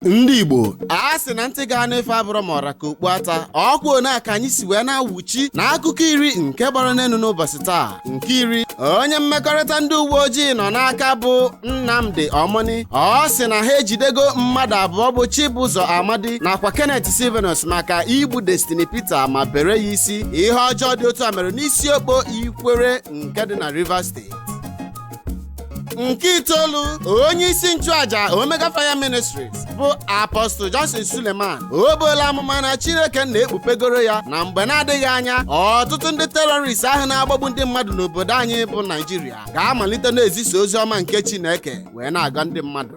ndị igbo a sị na ntị ga-anụ ife abụrọ ma ọ ra ka okpu ata ọ kwa na ka anyị si wee na-awụchi na akụkọ iri nke gbara n'enu n'ụbọsị taa nke iri onye mmekọrịta ndị uwe ojii nọ n'aka bụ nnamdi omoni ọ sị na ha ejidego mmadụ abụọ bụ chibụzọ amadi nakwa kenneth sylvanus maka igbu destiny peter ma bere ya isi ihe ọjọọ dị otu a mere n'isiokpo ikwerre nke dị na rivers steeti nke itoolu onye isi nchụaja omega fire ministries bụ apostle johnson suleman o buola amụma na chineke na-ekpupegoro ya na mgbe na-adịghị anya ọtụtụ ndị terrorist ahụ na-agbagbu ndị mmadụ n'obodo anyị bụ naijiria ga-amalite na-ezisa ozi ọma nke chineke wee na-agwọ ndị mmadụ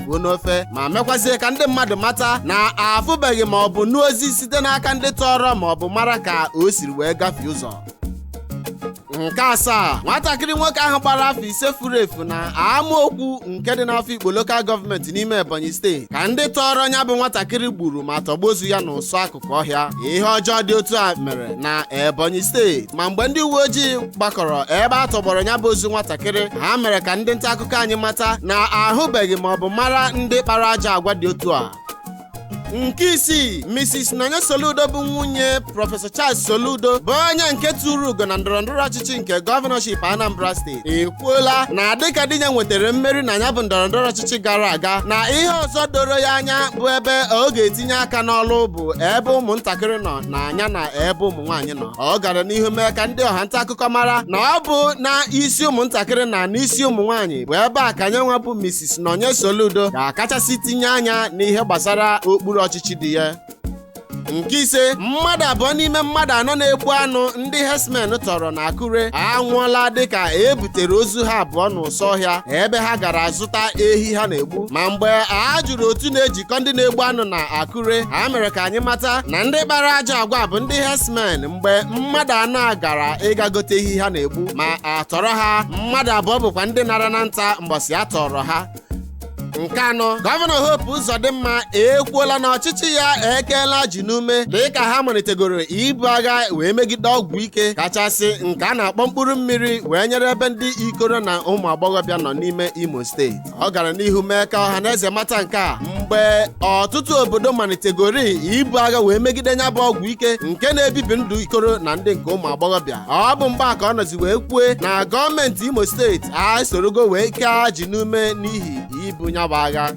fuo n'ofe ma mekwazie ka ndị mmadụ mata na afụbeghị ma ọ bụ nụ ozi site n'aka ndị tọrọ ma ọ bụ mara ka o siri wee gafee ụzọ nke asaa nwatakịrị nwoke ahụ gbara afọ ise furu efu na amaokwu nke dị n'afikpo lokal gọọmenti n'ime ebonyi steeti ka ndị tọọrọ nya bụ nwatakịrị gburu ma tọgbọ ozu ya n'ụsọ akụkụ kụ ọhịa ihe ọjọọ dị otu a mere na Ebonyi steeti ma mgbe ndị uwe ojii gbakọrọ ebe a tọgbọrọ nya bụ ozu nwatakịrị ha mere ka ndị nta akụkọ anyị mata na ahụbeghị ma ọ bụ mara ndị kpara ajọ agwa dị otu a nke isii mrs nonye soludo bụ nwunye prọfesọ charles soludo bụ onye nke turu ugo na ndọrọndọrọ ọchịchị nke gọvanọship anambra steeti ekwuola na dịka di ya nwetara mmeri na nya bụ ndọrọndọrọ ọchịchị gara aga na ihe ọzọ doro ya anya bụ ebe ọ ga-etinye aka n'ọlụ bụ ebe ụmụntakịrị nọ na nya na ebe ụmụ nwaanyị nọ ọ gara n'ihu mee ka ndị ọha nta akụkọ mara na ọ bụ na isi ụmụntakịrị na n'isi ụmụ nwaanyị bụ ebe a ka nya nwa bụ Mrs. Nonye Soludo ga-akachasị tinye anya n'ihe gbasara okpuru ọchịchị di ya nke ise mmadụ abụọ n'ime mmadụ anọ na-egbu anụ ndị herdsmen tọrọ na akure anwụọla dịka e butere ozu ha abụọ n'ụsọ ọhịa ebe ha gara zụta ehi ha na-egbu ma mgbe a jụrụ otu na-ejikọ ndị na-egbu anụ na akure ha mere ka anyị mata na ndị kpara ajọ agwa bụ ndị herdsmen mgbe mmadụ anọ a gara ịga gote ehi ha na-egbu ma a tọrọ ha mmadụ abụọ bụkwa ndị nara na nta mgbọsị a tọrọ ha nke anọ gọvanọ Hope Uzodimma ekwuola na ọchịchị ya ekeela ajị n'ume dịka ha malitegoro ibu agha wee megide ọgwụ ike kachasị nke a na-akpọ mkpụrụ mmiri wee nyere ebe ndị ikoro na ụmụ agbọghọbịa nọ n'ime Imo steeti ọ gara n'ihu mee ka ọha na eze mata nke a mgbe ọtụtụ obodo malitegoro ibu agha wee megide nya bụ ọgwụ ike nke na-ebibi ndụ ikoro na ndị nke ụmụ agbọghọbịa ọ bụ mgbe a ka ọ nọzi wee kwue na gọọmenti imo steeti esorogo wee kee ajị n'ume n'ihi ibu nya bụ agha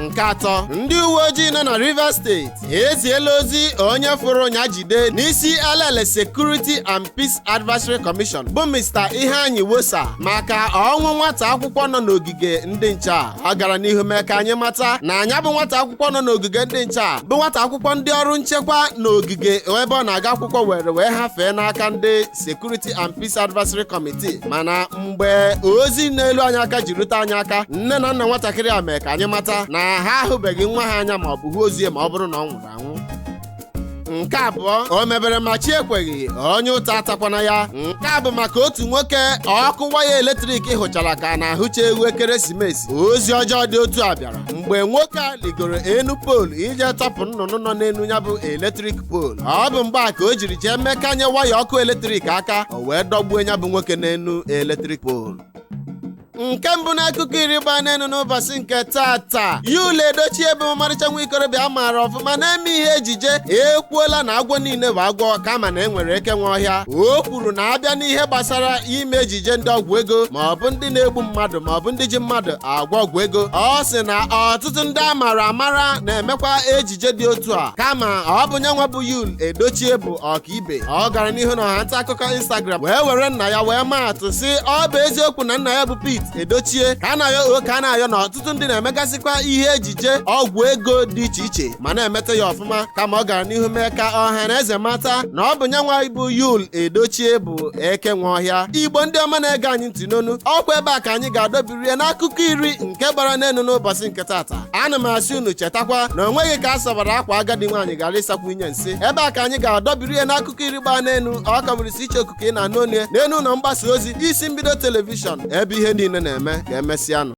nke atọ ndị uwe ojii nọ na rivers steeti eziela ozi onye fụrụ nya jide n'isi elele security and peace advisory commission bụ mr iheanyi wosa maka ọnwụ nwata akwụkwọ nọ n'ogige ndị nche a ọ gara n'ihu mee ka anyị mata na nya bụ nwata akwụkwọ nọ n'ogige ndị nche a bụ nwata akwụkwọ ndị ọrụ nchekwa n'ogige ebe ọ na-aga akwụkwọ were wee hafee n'aka ndị Security and Peace Advisory Committee mana mgbe ozi na-elu anyị aka ji rute anyị aka nne na nna nwatakịrị a mee ka anyị mata na ha ahụbeghị nwa ha anya ma ọ bụ hụ ozu ya ma ọ bụrụ na ọ nwụrụ anwụ nke abụọ o mebere ma chi ekweghị onye ụta atakwana ya nke a bụ maka otu nwoke ọkụ waya eletrik hụchara ka a na-ahụcha ewu ekeresimesi ozi ọjọọ dị otu a bịara mgbe nwoke a ligoro enu poolu ije tọpụ nnụnụ nọ n'enu nya bụ eletrik poolu ọ bụ mgbe a ka o jiri jee mekanye waya ọkụ eletrik aka o wee dọgbuo nya bụ nwoke n'enu eletrik poolu nke mbụ n'akụkọ iri gbaa n'enu n'ụbọsị nke tata yul edochie bụ ọmarịcha nwa ikorobịa a maara ọfụma na-eme ihe ejije ekwuola na agwọ niile bụ agwọ kama na e nwere eke nwe ọhịa o kwuru na a bịa n'ihe gbasara ime ejije ndị ọgwụ ego ma ọ bụ ndị na-egbu mmadụ ma ọ bụ ndị ji mmadụ agwọ ọgwụ ego ọ sị na ọtụtụ ndị a mara amara na-emekwa ejije dị otu a kama ọ bụ nyanwa bụ yul edochie bụ ọkaibe ọ gara n'ihu na ọha nta akụkọ instagram wee were nna ya wee maa atụ sị ọ bụ eziokwu na nna ya bụ pete edochie ka a na-ayọ o ka a na-ayọ na ọtụtụ ndị na-emegasịkwa ihe ejije ọgwụ ego dị iche iche ma na-emeta ya ọfụma kama ọ gara n'ihu mee ka ọha na eze mata na ọ bụ nyanwa bụ yul edochie bụ eke nwe ọhịa igbo ndị ọma na-ege anyị ntị nnọọnụ ọ kwa ebe a ka anyị ga-adọbi rie n'akụkọ iri nke gbara n'enu n'ụbọsị nke tata ana m asị unu chetakwa na o nweghị ka a sabara akwa agadi nwaanyị ghara ịsakwu inyi nsị ebe a ka anyị ga-adọbiri ya n'akụkọ iri gbaa n'enu ọ ka bụrịsị iche okuku ị na-anụ olu ya n'enu ụlọ mgbasa ozi isi mbido telivishọn ebe ihe niile na-eme ka emesịanụ